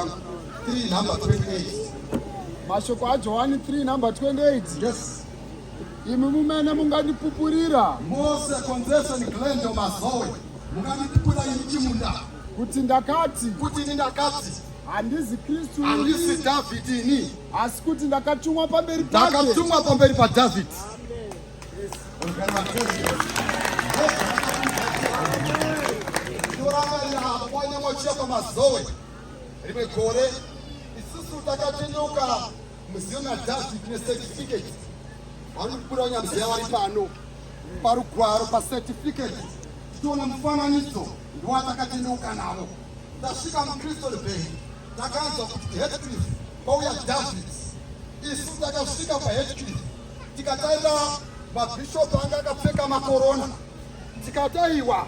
3 number 28 mashoko ajohani 3 number 28 yes imi mumene mungandipupurira mose konzeseni glendo mazoe mungandipupura ini chimunda kuti ndakati kuti ini ndakati handizi kristu handisi dhavhidhi ini asi kuti ndakatumwa pamberi pake ndakatumwa pamberi padhavhidhi Amen. Rimwe gore isusu takatendeuka muziyo madhasi tine certificate vari kukura nyamzeya vari pano parugwaro pacertificate tichiona mufananidzo ndiwatakatendeuka navo tasvika mucrystal bay takanzwa kuti headcliff kwauya david isu takasvika paheadcliff tikatarira mabhishopu anga akapfeka makorona tikataiwa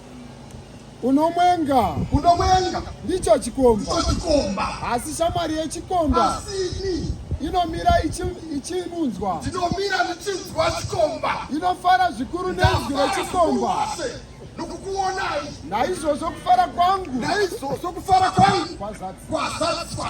Unomwenga. Unomwenga. Ndicho chikomba. Ndicho chikomba. Asi shamwari yechikomba. Asi ini inomira ichinunzwa ndinomira ndichinzwa chikomba inofara zvikuru nenzwi rechikomba nokukuonai naizvozvo kufara kwangu naizvozvo kufara kwangu kwazadzwa